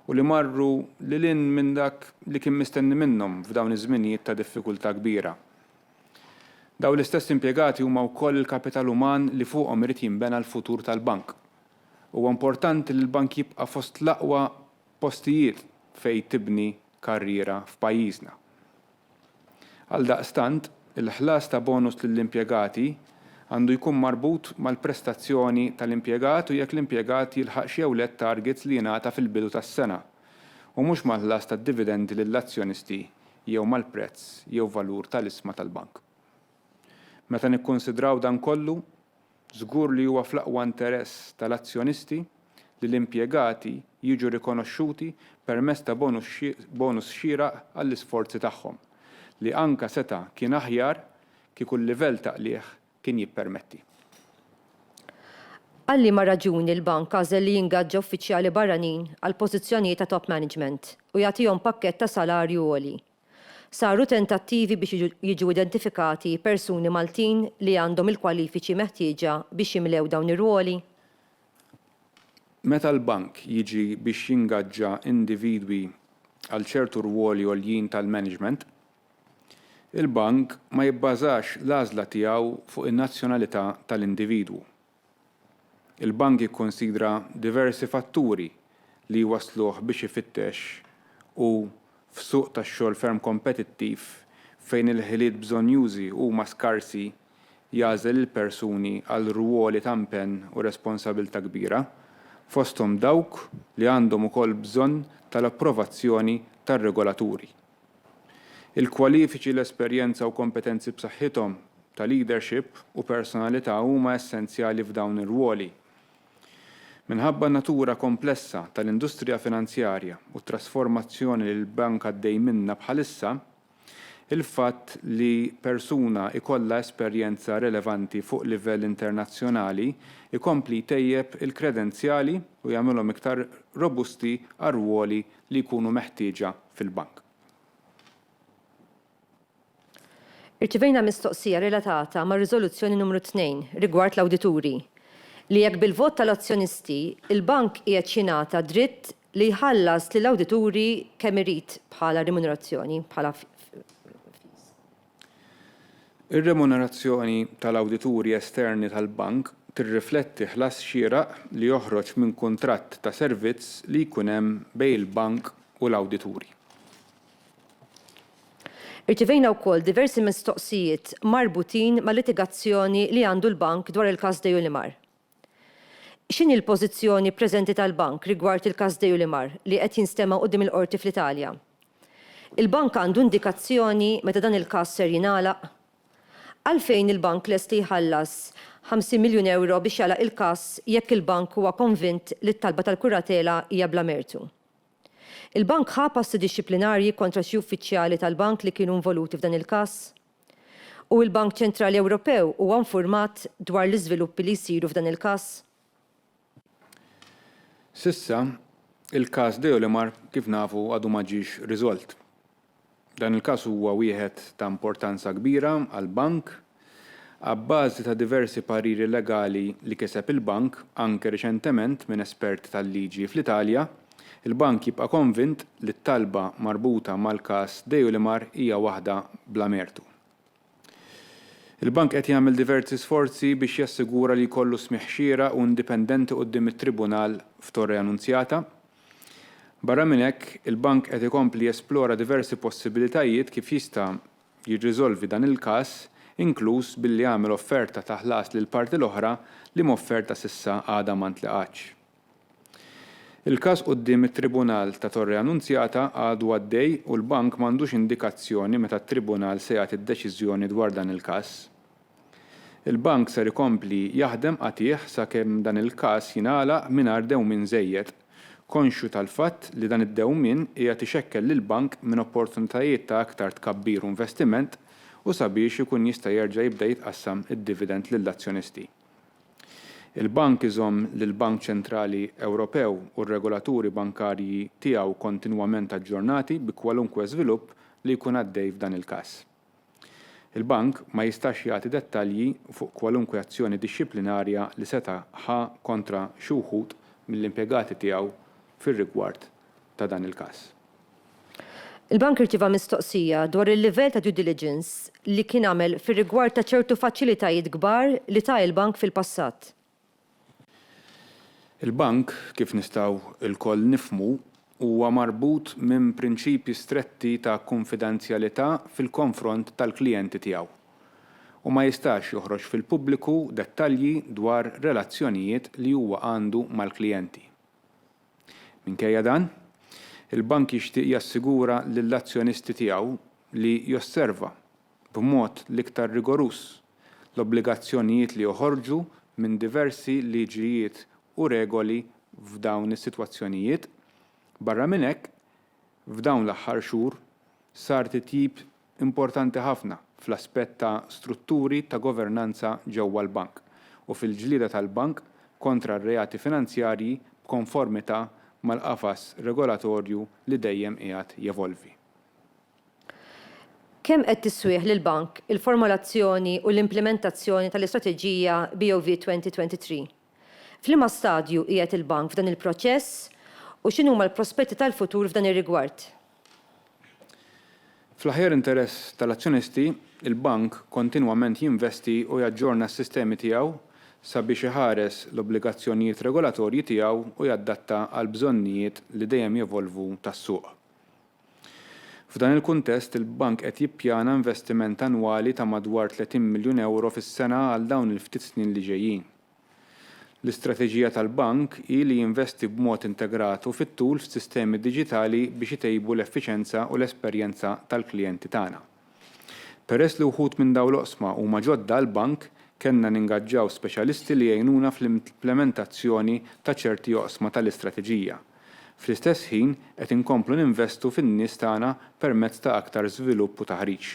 u li marru lil hinn minn dak li kien mistenni minnhom f'dawn iż-żminijiet ta' diffikultà kbira. Dawn l-istess impjegati huma wkoll il-kapital uman li fuqhom irid jinbena l-futur tal-Bank. Huwa importanti li l-Bank jibqa' fost l-aqwa postijiet fejn tibni karriera f'pajjiżna. Għaldaqstant, il-ħlas ta' bonus lill-impjegati għandu jkun marbut mal-prestazzjoni tal-impjegat u jekk l-impjegat jilħaqx jew le t-targets li jingħata fil-bidu tas-sena, u mhux mal-ħlas tad-dividendi lill-azzjonisti jew mal-prezz jew valur tal-isma tal-bank. Meta nikkunsidraw dan kollu, Żgur li huwa fl-aqwa interess tal-azzjonisti li l-impjegati jiġu rikonoxxuti permezz ta' bonus xieraq għall-isforzi tagħhom, li anke seta' kien aħjar kieku l-livell ta' qligħ kien jippermetti. Għal liema raġuni l-Bank għażel li jingaġġa uffiċjali barranin għal pożizzjonijiet ta' top management u jagħtihom pakkett ta' salarju għoli? Saru tentattivi biex jiġu identifikati persuni Maltin li għandhom il-kwalifiċi meħtieġa biex jimlew dawn ir-rwoli? Meta l-Bank jiġi biex jingaġġa individwi għal ċertu rwoli għoljin tal-management, il-Bank ma jibbażax l-għażla tiegħu fuq in-nazzjonalità tal-individwu. Il-Bank jikkunsidra diversi fatturi li jwassluh biex ifittex u f'suq tax-xogħol ferm kompetittiv fejn il-ħiliet bżonnjużi huma skarsi jagħżel il-persuni għal rwoli ta' mpenn u responsabilità kbira, fosthom dawk li għandhom ukoll bżonn tal-approvazzjoni tar-regolaturi. Il-kwalifiċi, l-esperjenza u kompetenzi b'saħħithom ta' leadership u personalità huma essenzjali f'dawn ir-rwoli. Minħabba n-natura komplessa tal-industrija finanzjarja u t-trasformazzjoni li l-bank għaddej minnha bħalissa, il-fatt li persuna jkollha esperjenza relevanti fuq livell internazzjonali jkompli jtejjeb il-kredenzjali u jagħmilhom iktar robusti għar-rwoli li jkunu meħtieġa fil-bank. Irċivejna mistoqsija relatata mar-riżoluzzjoni numru tnejn rigward l-awdituri, li jekk bil-vot tal-azzjonisti, il-bank qiegħed jingħata dritt li jħallas lill-awdituri kemm irid bħala rimunerazzjoni, bħala fees. Ir-remunerazzjoni tal-awdituri esterni tal-bank tirrifletti ħlas xieraq li joħroġ minn kuntratt ta' servizz li jkun hemm bejn il-bank u l-awdituri. Irċivejna wkoll diversi mistoqsijiet marbutin mal-litigazzjoni li għandu l-bank dwar il-każ Deunimar. X'inhi l-pożizzjoni preżenti tal-Bank rigward il-każ Deulimar li qed jinstema' quddiem il-Qorti fl-Italja? Il-Bank għandu indikazzjoni meta dan il-każ ser jingħalaq? Għalfejn il-Bank lest li jħallas ħamsin miljun ewro biex jagħlaq il-każ jekk il-Bank huwa konvint li t-talba tal-kuratela hija bla mertu? Il-Bank ħa passi dixxiplinarji kontra xi uffiċjali tal-Bank li kienu involuti f'dan il-każ? U l-Bank Ċentrali Ewropew huwa infurmat dwar l-iżviluppi li jsiru f'dan il-każ? S'issa, il-każ Deolimar, kif nafu, għadu ma ġiex riżolt. Dan il-każ huwa wieħed ta' importanza kbira għall-Bank. Abbażi ta' diversi pariri legali li kiseb il-Bank, anke riċentement minn esperti tal-liġi fl-Italja, Il-Bank jibqa' konvint li t-talba marbuta mal-każ Deilimar hija waħda bla mertu. Il-Bank qed jagħmel diversi sforzi biex jassigura li jkollu smigħ xieraq u indipendenti quddiem it-Tribunal f'Torre Annunziata. Barra minn hekk, il-Bank qed ikompli jesplora diversi possibilitajiet kif jista' jirriżolvi dan il-każ, inkluż billi għamel offerta ta' ħlas lill-parti l-oħra li m'offerta s'issa għadha ma ntlaqgħetx. Il-każ quddiem it-Tribunal ta' Torre Annunziata għadu għaddej u l-bank m'għandux indikazzjoni meta t-Tribunal se jagħti d-deċiżjoni dwar dan il-każ. Il-bank ser ikompli jaħdem qatigħ sakemm dan il-każ jingħalaq mingħajr dewmien żejjed, konxju tal-fatt li dan id-dewmien qiegħed ixekkel lill-bank minn opportunitajiet ta' aktar tkabbir u investiment u sabiex ikun jista' jerġa' jibda jitqassam id-dividend lill-azzjonisti. Il-Bank iżomm lill-Bank Ċentrali Ewropew u r-regolaturi bankarji tiegħu kontinwament aġġornati bi kwalunkwe żvilupp li jkun għaddej f'dan il-każ. Il-Bank ma jistax jagħti dettalji fuq kwalunkwe azzjoni dixxiplinarja li seta' ħa kontra xi wħud mill-impjegati tiegħu fir-rigward ta' dan il-każ. Il-Bank irċieva mistoqsija dwar il-livell ta' due diligence li kien għamel fir-rigward ta' ċertu faċilitajiet kbar li ta il-Bank fil-passat. Il-Bank, kif nistgħu lkoll nifhmu, huwa marbut minn prinċipji stretti ta' kunfidenzjalità fil-konfront tal-klijenti tiegħu u ma jistax joħroġ fil-pubbliku dettalji dwar relazzjonijiet li huwa għandu mal-klijenti. Minkejja dan, il-Bank jixtieq jassigura lill-azzjonisti tiegħu li josserva, b'mod l-iktar rigoruż, l-obbligazzjonijiet li joħorġu minn diversi liġijiet u regoli f'dawn is-sitwazzjonijiet. Barra minn hekk, f'dawn l-aħħar xhur sar titjib importanti ħafna fl-aspett ta' strutturi ta' governanza ġewwa l-Bank u fil-ġlieda tal-Bank kontra r-reati finanzjarji b'konformità mal-qafas regolatorju li dejjem qiegħed jevolvi. Kemm qed tisswih lill-Bank il-formolazzjoni u l-implimentazzjoni tal-istrateġija BOV 2023? F'liema stadju qiegħed il-Bank f'dan il-proċess u x'inhuma l-prospetti tal-futur f'dan ir-rigward? Fl-aħjar interess tal-azzjonisti, il-Bank kontinwament jinvesti u jaġġorna s-sistemi tiegħu sabiex iħares l-obbligazzjonijiet regolatorji tiegħu u jadatta għall-bżonnijiet li dejjem jevolvu tas-suq. F'dan il-kuntest, il-Bank qed jippjana investiment annwali ta' madwar tletin miljun ewro fis-sena għal dawn il-ftit snin li ġejjin. L-istrateġija tal-Bank hi li jinvesti b'mod integrat u fit-tul f'sistemi diġitali biex itejbu l-effiċenza u l-esperjenza tal-klijenti tagħna. Peress li wħud minn dawn l-oqsma huma ġodda għall-Bank, kellna ningaġġaw speċjalisti li jgħinuna fl-implementazzjoni ta' ċerti oqsma tal-istrateġija. Fl-istess ħin qed inkomplu ninvestu fin-nies tagħna permezz ta' aktar żvilupp u taħriġ.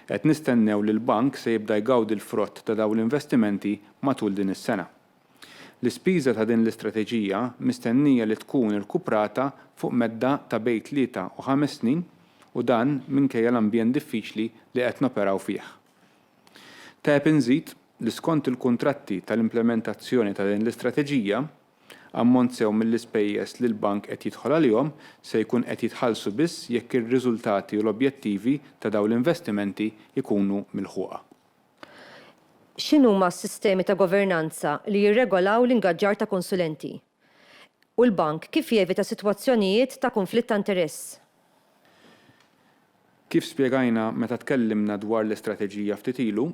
Qed nistennew li l-Bank se jibda jgawdi l-frott ta' dawn l-investimenti matul din is-sena. L-ispiża ta' din l-istrateġija mistennija li tkun irkuprata fuq medda ta' bejt tlieta u ħames snin u dan minkejja l-ambjent diffiċli li qed noperaw fih. Teb inżid li skont il-kuntratti tal-implementazzjoni ta' din l-istrateġija, ammont sew mill-ispejjeż li l-Bank qed jidħol għalihom se jkun qed jitħallsu biss jekk ir-riżultati u l-objettivi ta' dawn l-investimenti jkunu milħuqa. X'inhuma s-sistemi ta' governanza li jirregolaw l-ingaġġar ta' konsulenti? U l-Bank kif jevita sitwazzjonijiet ta' kunflitt ta' interess? Kif spjegajna meta tkellimna dwar l-istrateġija ftit ilu,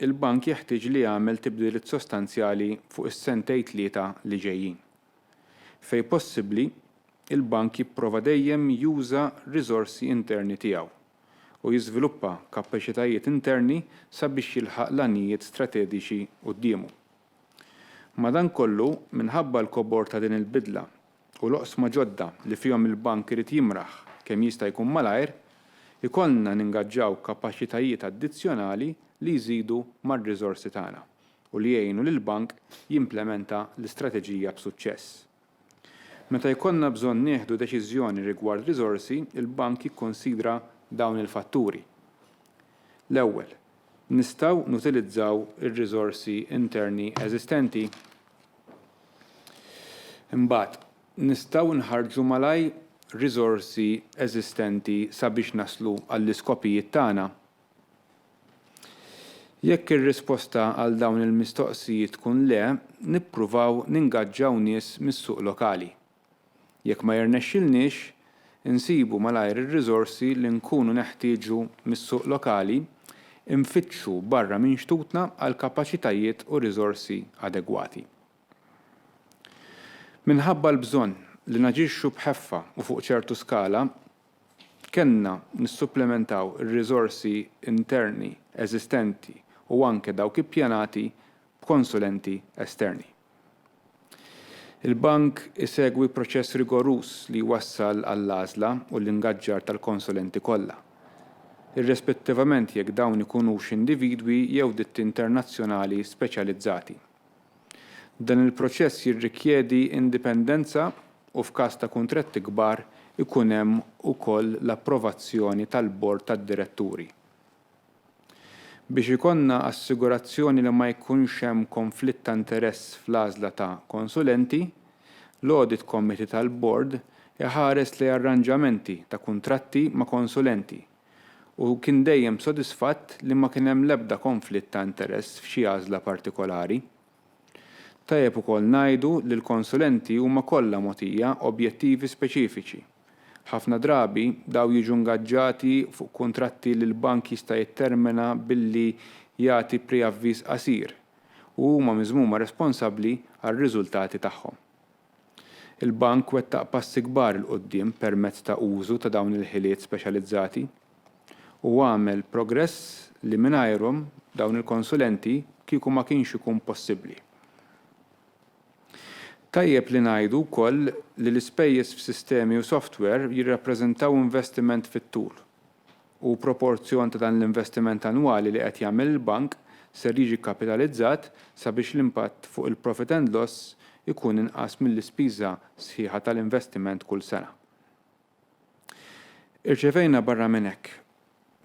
il-Bank jeħtieġ li jagħmel tibdiliet sostanzjali fuq is-sentej tlieta li ġejjin. Fejn possibbli, il-Bank jipprova dejjem juża riżorsi interni tiegħu u jiżviluppa kapaċitajiet interni sabiex jilħaq l-għanijiet stratediċi quddiemu. Madankollu, minħabba l-kobor ta' din il-bidla u l-oqsma ġodda li fihom il-Bank irid jimraħ kemm jista' jkun malajr, ikollna ningaġġaw kapaċitajiet addizzjonali li jżidu mar-riżorsi tagħna u li jgħinu lill-Bank jimplementa l-istrateġija b'suċċess. Meta jkollna bżonn nieħdu deċiżjoni rigward riżorsi, il-Bank jikkunsidra dawn il-fatturi. L-ewwel, nistgħu nutilizzaw ir-riżorsi interni eżistenti? Imbagħad, nistgħu nħarrġu malajr riżorsi eżistenti sabiex naslu għall-iskopijiet tagħna? Jekk ir-risposta għal dawn il-mistoqsijiet tkun le, nippruvaw ningaġġaw nies mis-suq lokali. Jekk ma jirnexxilniex, insibu malajr ir-riżorsi li nkunu neħtieġu mis-suq lokali, infittxu barra minn xtutna għal kapaċitajiet u riżorsi adegwati. Minħabba l-bżonn li naġixxu b'ħeffa u fuq ċertu skala, Kellna nissupplimentaw ir-riżorsi interni eżistenti u anke dawk ippjanati b'konsulenti esterni. Il-Bank isegwi proċess rigoruż li jwassal għall-għażla u l-ingaġġar tal-konsulenti kollha, irrispettivament jekk dawn ikunux individwi jew ditti internazzjonali speċjalizzati. Dan il-proċess jirrikjedi indipendenza u f'każ ta' kuntratti kbar ikun hemm ukoll l-approvazzjoni tal-Bord tad-Diretturi. Biex ikollna assigurazzjoni li ma jkunx hemm konflitt ta' interess fl-għażla ta' konsulenti, l-Audit Committee tal-Bord iħares lejn arranġamenti ta' kuntratti ma' konsulenti, u kien dejjem sodisfatt li ma kien hemm l-ebda konflitt ta' interess f'xi għażla partikolari. Tajjeb ukoll ngħidu li l-konsulenti huma kollha mogħtija objettivi speċifiċi. Ħafna drabi dawn jiġu ngaġġati fuq kuntratti li l-bank jista' jittermina billi jagħti preavviż qasir u huma miżmuma responsabbli għar-riżultati tagħhom. Il-Bank wettaq passi kbar 'il quddiem permezz ta' użu ta' dawn il-ħiliet speċjalizzati u għamel progress li mingħajrhom dawn il-konsulenti kieku ma kienx ikun possibbli. Tajjeb li ngħidu wkoll li l-ispejjeż f'sistemi u software jirrappreżentaw investiment fit-tul u proporzjon ta' dan l-investiment annwali li qed jagħmel il-Bank ser jiġi kkapitalizzat sabiex l-impatt fuq il-profit and loss ikun inqas mill-ispiża sħiħa tal-investiment kull sena. Irċevejna barra minn hekk,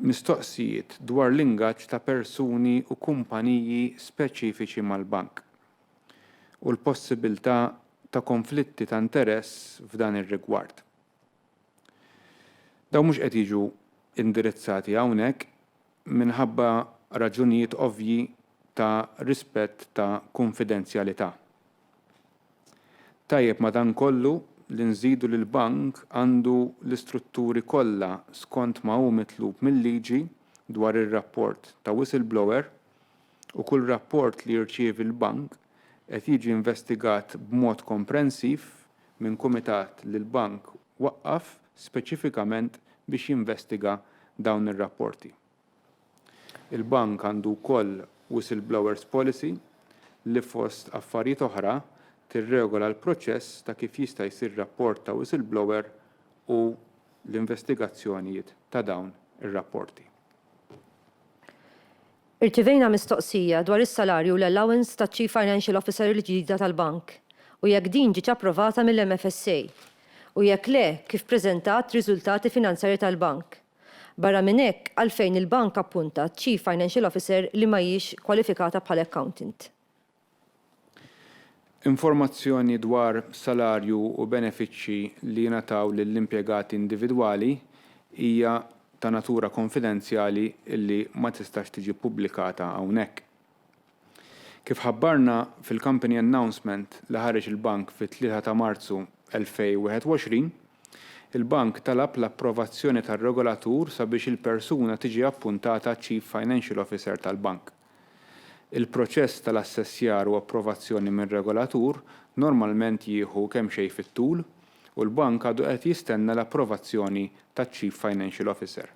mistoqsijiet dwar l-ingaġġ ta' persuni u kumpaniji speċifiċi mal-Bank u l-possibiltà ta' konflitti ta' interess f'dan ir-rigward. Dawn mhux qed jiġu indirizzati hawnhekk minħabba raġunijiet ovvji ta' rispett ta' kunfidenzjalità. Tajjeb madankollu li nżidu li l-Bank għandu l-istrutturi kollha skont ma hu mitlub mil-liġi dwar ir-rapport ta' whistleblower, u kull rapport li jirċievi l-Bank qed jiġi investigat b'mod komprensiv minn kumitat li l-Bank waqqaf speċifikament biex jinvestiga dawn ir-rapporti. Il-Bank għandu wkoll whistleblowers policy li fost affarijiet oħra tirregola l-proċess ta' kif jista' jsir rapport ta' whistleblower u l-investigazzjonijiet ta' dawn ir-rapporti. Irċivejna mistoqsija dwar is-salarju u l-allowance taċ-Chief Financial Officer il-ġdida tal-Bank u jekk din ġietx approvata mill-MFSA u jekk le kif preżentat riżultati finanzjarji tal-Bank. Barra minn hekk għalfejn il-Bank appuntat Chief Financial Officer li ma hijiex kwalifikata bħala Accountant. Informazzjoni dwar salarju u benefiċċji li jingħataw lill-impjegati individwali hija ta' natura konfidenzjali li ma tistax tiġi ppubblikata hawnhekk. Kif ħabbarna fil-Company Announcement li ħareġ il-Bank fit-3 ta' Marzu 2021, il-Bank talab l-approvazzjoni tar-regolatur sabiex il-persuna tiġi appuntata Chief Financial Officer tal-Bank. Il-proċess tal-assessjar u approvazzjoni mir-regolatur normalment jieħu kemxejn fit-tul u l-bank għadu qed jistenna l-approvazzjoni taċ-Chief Financial Officer.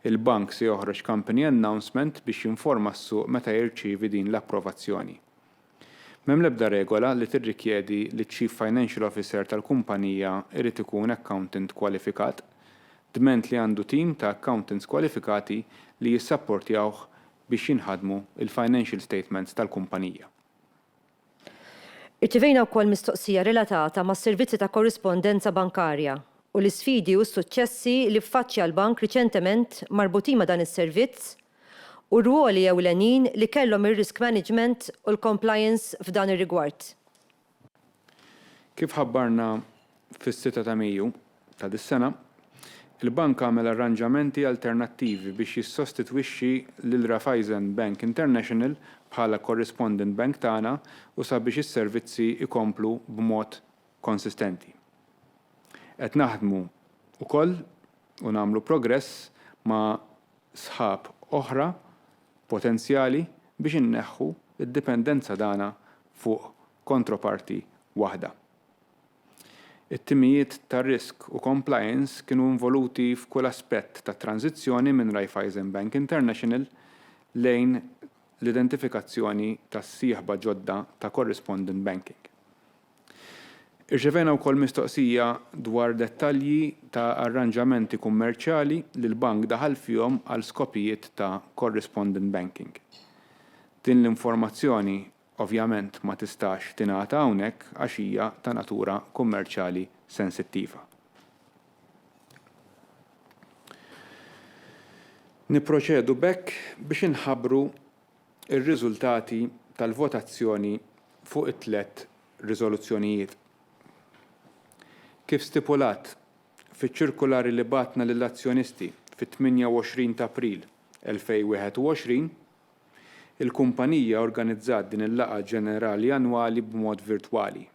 Il-bank se joħroġ company announcement biex jinforma s-suq meta jirċievi din l-approvazzjoni. M'hemm l-ebda regola li tirrikjedi li ċ-Chief Financial Officer tal-kumpanija jrid ikun accountant kwalifikat, dment li għandu tim ta' accountants kwalifikati li jissapportjawh biex jinħadmu l-financial statements tal-kumpanija. Irċevejna wkoll mistoqsija relatata mas-servizzi ta' korrispondenza bankarja u l-isfidi u s-suċċessi li ffaċċja l-Bank riċentement marbutin ma' dan is-servizz u r-rwoli ewlenin li kellhom ir-risk management u l-compliance f'dan ir-rigward. Kif ħabbarna fis-sitta ta' Mejju ta' dis-sena, il-Bank għamel arranġamenti alternattivi biex jissostitwixxi lil Raiffeisen Bank International bħala correspondent bank tagħna u sabiex is-servizzi jkomplu b'mod konsistenti. Qed naħdmu wkoll u nagħmlu progress ma' sħab oħra potenzjali biex inneħħu d-dipendenza tagħna fuq kontroparti waħda. It-timijiet ta' risk u compliance kienu involuti f'kull aspett tat-tranżizzjoni minn Raiffeisen Bank International lejn l-identifikazzjoni tas-sieħba ġodda ta' correspondent banking. Irċevejna wkoll mistoqsija dwar dettalji ta' arranġamenti kummerċjali li l-bank daħal fihom għal skopijiet ta' correspondent banking. Din l-informazzjoni ovvjament ma tistax tingħata hawnhekk għax hija ta' natura kummerċjali sensittiva. Nipproċedu b'hekk biex inħabbru ir-riżultati tal-votazzjoni fuq it-tliet riżoluzzjonijiet. Kif stipulat fiċ-ċirkulari li bgħatna lill-azzjonisti fit-28 ta' April 2021, il-kumpanija organizzat din il-laqgħa ġenerali annwali b'mod virtwali,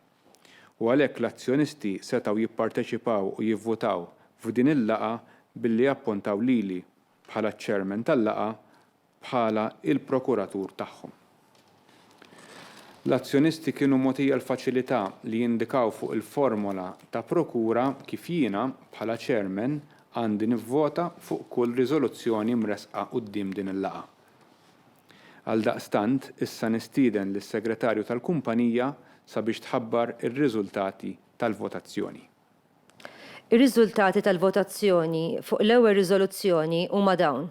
u għalhekk l-azzjonisti setgħu jipparteċipaw u jivvutaw f'din il-laqgħa billi appuntaw lili bħala ċ-Chairman tal-laqgħa bħala l-prokuratur tagħhom. L-azzjonisti kienu mogħtija l-faċilità li jindikaw fuq il-formola ta' prokura kif jiena, bħala chairman, għandi nivvota fuq kull riżoluzzjoni mressqa quddiem din il-laqgħa. Għaldaqstant, issa nistieden lis-Segretarju tal-Kumpanija sabiex tħabbar ir-riżultati tal-votazzjoni. Ir-riżultati tal-votazzjoni fuq l-ewwel riżoluzzjoni huma dawn.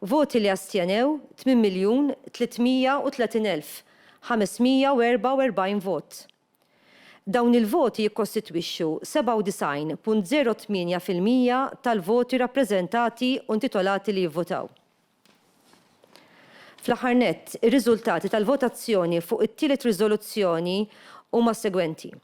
Voti li astjenew, 8,330,544 vot. Dawn il-voti jikkostitwixxu 97.08 fil-mija tal-voti rappreżentati u intitolati li jivvotaw. Fl-aħħar nett, ir-riżultati tal-votazzjoni fuq it-tielet riżoluzzjoni huma s-segwenti.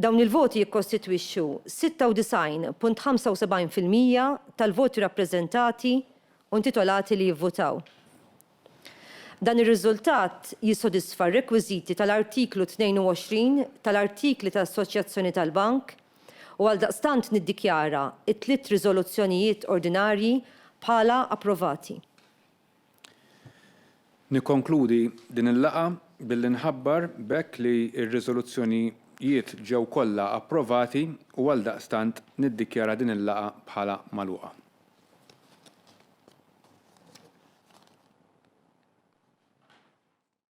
Dawn il-voti jikkostitwixxu 96.75 fil-mija tal-voti rappreżentati u intitolati li jivvutaw. Dan ir-riżultat jissodisfa r-rekwiżiti tal-Artiklu 22 tal-Artikli ta' Assoċjazzjoni tal-Bank u għaldaqstant niddikjara t-tliet riżoluzzjonijiet ordinarji bħala approvati. Nikkonkludi din il-laqgħa billi nħabbar b'hekk li r-riżoluzzjonijiet ġew kollha approvati u għaldaqstant niddikjara din il-laqgħa bħala magħluqa.